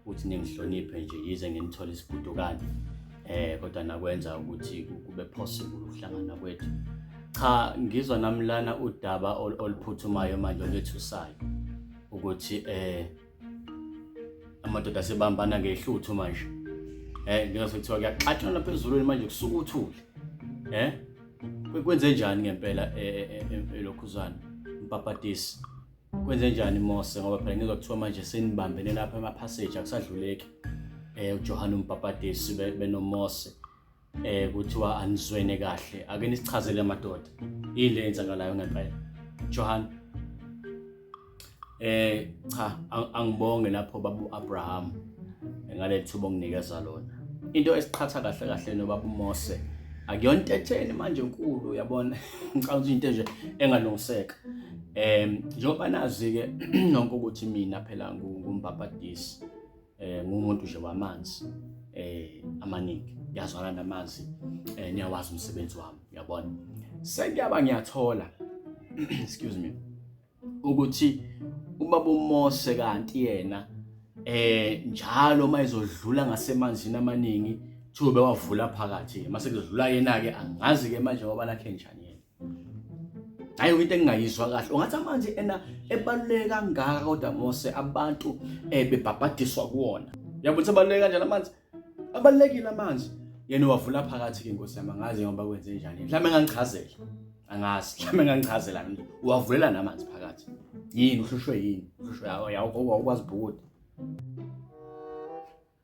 ukuthi ningihloniphe nje yize nginithola isibudukane eh kodwa nakwenza ukuthi kube possible ukuhlangana kwethu cha ngizwa namlana udaba oluphuthumayo manje olethusayo ukuthi eh amadoda sebambana ngehluthu manje eh ngiyase kuthiwa kuyaxatshwa lapha ezulwini manje kusuka uthule eh kwenze njani ngempela eh, eh, eh, elokhuzana mpapatisi kwenze njani Mose ngoba phela ngizwa kuthiwa manje senibambene lapha emaphaseji akusadluleki eh uJohane umbhapatisi benoMose eh kuthiwa anizwene kahle ake nisichazele amadoda ile enzakalayo ngempela Johann eh cha angibonge lapho babu Abraham ngalethuba onginikeza lona into esiqhatha kahle kahle nobaba uMose akuyona into etheni manje enkulu uyabona ngicabanga ukuthi into nje engalungiseka Eh njengoba nazi ke nonke ukuthi mina phela ngumbhabhadisi eh ngumuntu nje wamanzi eh amaningi ngiyazwana namazi eh niyawazi umsebenzi wami uyabona sengiyaba ngiyathola excuse me ukuthi ubaba uMose kanti yena eh njalo mayizodlula ngasemanzini amaningi thube wavula phakathi mase kuzodlula yena ke angazi ke manje ngoba lakhe njani hayi into engingayizwa kahle ungathi amanzi ena ebaluleke kangaka kodwa mose abantu eh bebhabhadiswa kuwona yabona sebaluleke kanjani amanzi abalulekile amanzi yena wavula phakathi ke nkosi yami angazi ngoba kwenze njani mhlawumbe engangichazela angazi mhlawumbe engangichazela mina uwavulela namanzi phakathi yini uhlushwe yini uhlushwe awukwazi bhukuda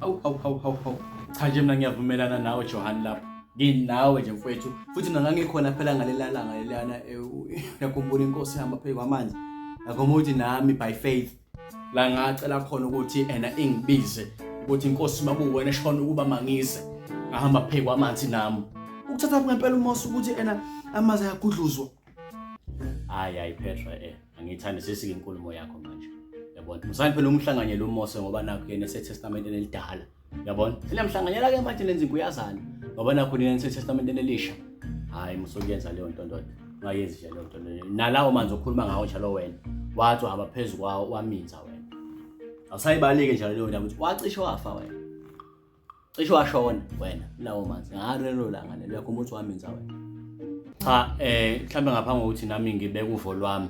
Awu awu awu awu awu. Cha nje mina ngiyavumelana nawe Johan lapho. Nginawe nje mfwethu. Futhi mina ngangikhona phela ngalelalanga lelana yakhumbula eh, inkosi ihamba phezu kwamanzi. Ngakho uthi nami by faith la ngacela khona ukuthi ena ingibize ukuthi inkosi makuwena shona ukuba mangise ngahamba phezu kwamanzi nami. Ukuthatha ngempela umosi ukuthi ena amazi ayagudluzwa. hayi hayi Petra eh angiyithandi sesike inkulumo yakho manje yabona musani phela umhlanganyela uMose ngoba nakho yena esetestamenteni elidala yabona sinamhlanganyela ke manje lenza inkuyazana ngoba nakho nina esetestamenteni elisha hayi musokuyenza leyo nto ndoda ungayenzi nje leyo nto leyo nalawo manzi okhuluma ngawo njalo wena wathi uhamba phezu kwawo waminza wena awusayibaleke njalo leyo ndaba ukuthi wacishe wafa wena cishe washona wena lawo manzi ngalelo langa lelo yakho umuthi wami nza wena cha eh mhlambe ngaphambi kokuthi nami ngibeke uvo lwami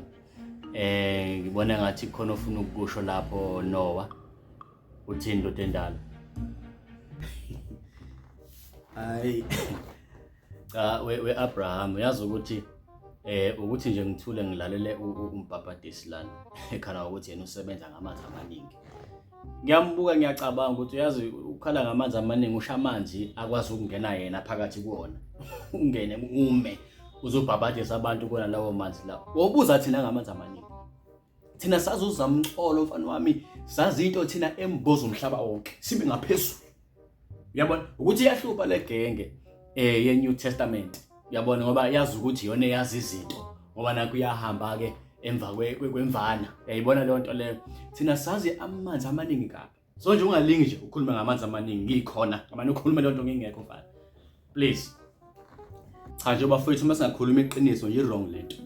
eh ngibona ngathi khona ofuna ukusho lapho Noah uthini ndoda endala hayi cha we-abraham uyazi ukuthi eh ukuthi nje ngithule ngilalele umbhabhadisi lana ekhala ukuthi yena usebenza ngamanzi amaningi ngiyambuka ngiyacabanga ukuthi uyazi ukhala ngamanzi amaningi usha amanzi akwazi ukungena yena phakathi kuwona ungene ume uzobhabhadisa abantu kona lawo manzi lawo wobuza thina ngamanzi amaningi thina sazi uzamxolo mfana wami sazi into thina emboza umhlaba wonke sibe ngaphezulu uyabona ukuthi iyahlupha le genge eh ye New Testament uyabona ngoba yazi ukuthi yona yazi izinto ngoba nakho iyahamba ke emva kwemvana uyayibona leyo nto leyo thina sazi amanzi amaningi kabi so nje ungalingi nje ukhuluma ngamanzi amaningi ngikhona ngamane ukhuluma leyo nto ngingekho mfana please cha nje bafowethu uma singakhuluma iqiniso nje wrong lento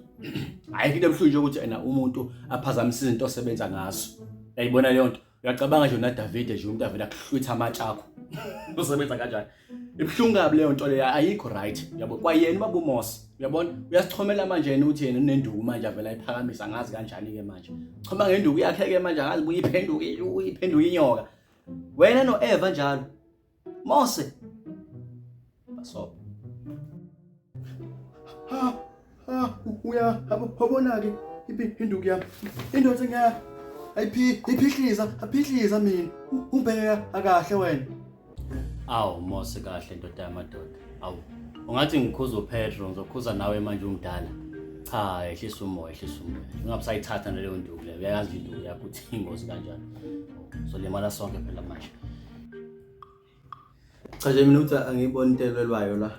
ayikho into ebuhlungu nje ukuthi ena umuntu aphazamise izinto osebenza ngazo uyayibona leyo nto uyacabanga nje unaDavide nje umuntu avela kuhlwitha amatshe akho usebenza kanjani ibuhlungu kabi leyo nto leyo ayikho right yabo kwayena ubaba uMose uyabona uyasichomela manje yena uthi yena unenduku manje avela iphakamisa ngazi kanjani ke manje choma ngenduku yakhe ke manje ngazi buyiphenduke uyiphenduke inyoka wena noEva njalo Mose. Basobo. Ha ha uya habona ke iphinduku yami. Indoda ngeke ayiphi iphihliza aphihliza mina ubheka akahle wena. Awu Mose kahle ndoda yamadoda. Awu ungathi ngikhuza uPetro ngizokhuza nawe manje umdala. Cha ehlisa umoya ehlisa umoya. Ungabusayithatha naleyo nduku leyo. Uyayazi induku yakho ukuthi ingozi kanjani. Solimala sonke phela manje. Cha nje mina ukuthi angiboni into elwelwayo la.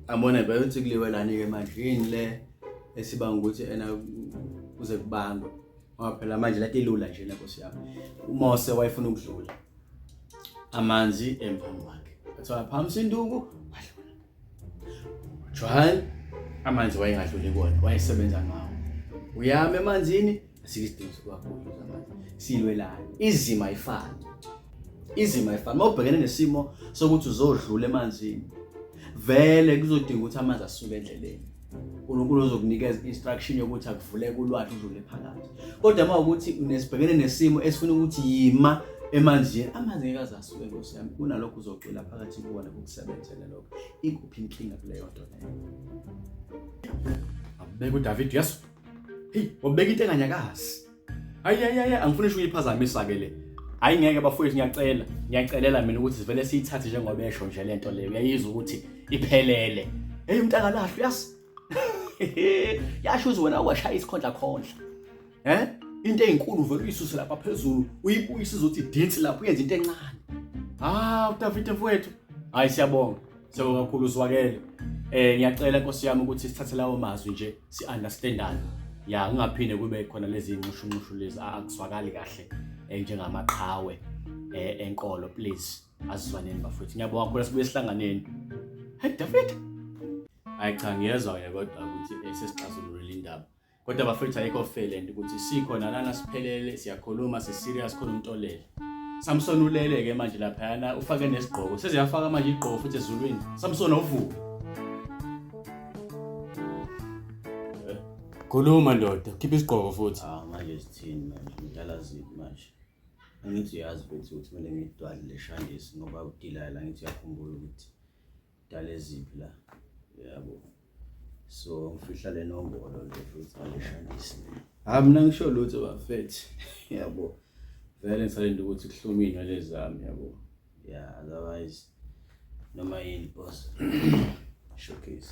Angibona bayothi kuliwelani ke manje yini le esibanga ukuthi ena kuze kubangwe. Ngoba phela manje lati ilula nje le nkosi yami. UMose wayefuna ukudlula amanzi emphambi kwakhe. Kuthiwa phamsi induku wadlula. Jwal amanzi wayengadluli kona wayesebenza ngawo uyama emanzini asike isidingo sokuwakhulu amanzi silwelani izima ifana izima ifana uma ubhekene nesimo sokuthi uzodlula emanzini vele kuzodinga ukuthi amanzi asuke endleleni uNkulunkulu uzokunikeza instruction yokuthi akuvule kulwathi uzule phakathi kodwa uma ukuthi unesibhekene nesimo esifuna ukuthi yima emanzini amanzi ngeke azasuke nkosi yami kunalokho uzocwila phakathi kuwona kukusebenzele lokho ikuphi inkinga kuleyo nto leyo abeka udavid yesu heyi wabeka into enganyakazi ayi ayi ayi angifuni isho uyiphazamisa ke le hayi ngeke bafowethu ngiyacela ngiyacelela mina ukuthi sivele siyithathe njengoba esho nje le nto leyo uyayizwa ukuthi iphelele eyi umntu akalahlwa uyazi yasho uze wena washaya isikhondla khondla um into ey'nkulu vele uyisuse lapha phezulu uyibuyise izothi idinsi lapho uyenza into encane hawu udavide mfowethu hhayi siyabonga Siyabonga kakhulu siwakele. Eh ngiyacela Nkosi yami ukuthi sithathe lawo mazwi nje si-understandane. Ya kungaphinde kube khona lezi nqushunqushu lezi akuzwakali kahle eh, njengamaqhawe eh enkolo please asizwaneni bafethu. Ngiyabonga kakhulu sibuye sihlanganeni. Hey David. Hayi cha ngiyezwa ke kodwa ukuthi eh, sesixazululile indaba. kodwa bafethu ayikho felent ukuthi sikhona lana siphelele siyakhuluma siserious khona umuntu olele Samson ulele ke manje laphayana ufake nesigqoko seziyafaka manje igqoko futhi ezulwini Samson uvuke Khuluma ndoda khipha isigqoko futhi ah manje sithini manje ngidlala ziphi manje angithi uyazi futhi ukuthi kumele ngidwale leshangisi ngoba udilala ngithi uyakhumbula ukuthi dala eziphi la yabo so ngifihla le nombolo nje futhi angishandisi hayi mina ngisho lutho bafethu yabo vele ngisalinde ukuthi kuhlome iy'nwele zami yabo ya otherwise noma yini boss showcase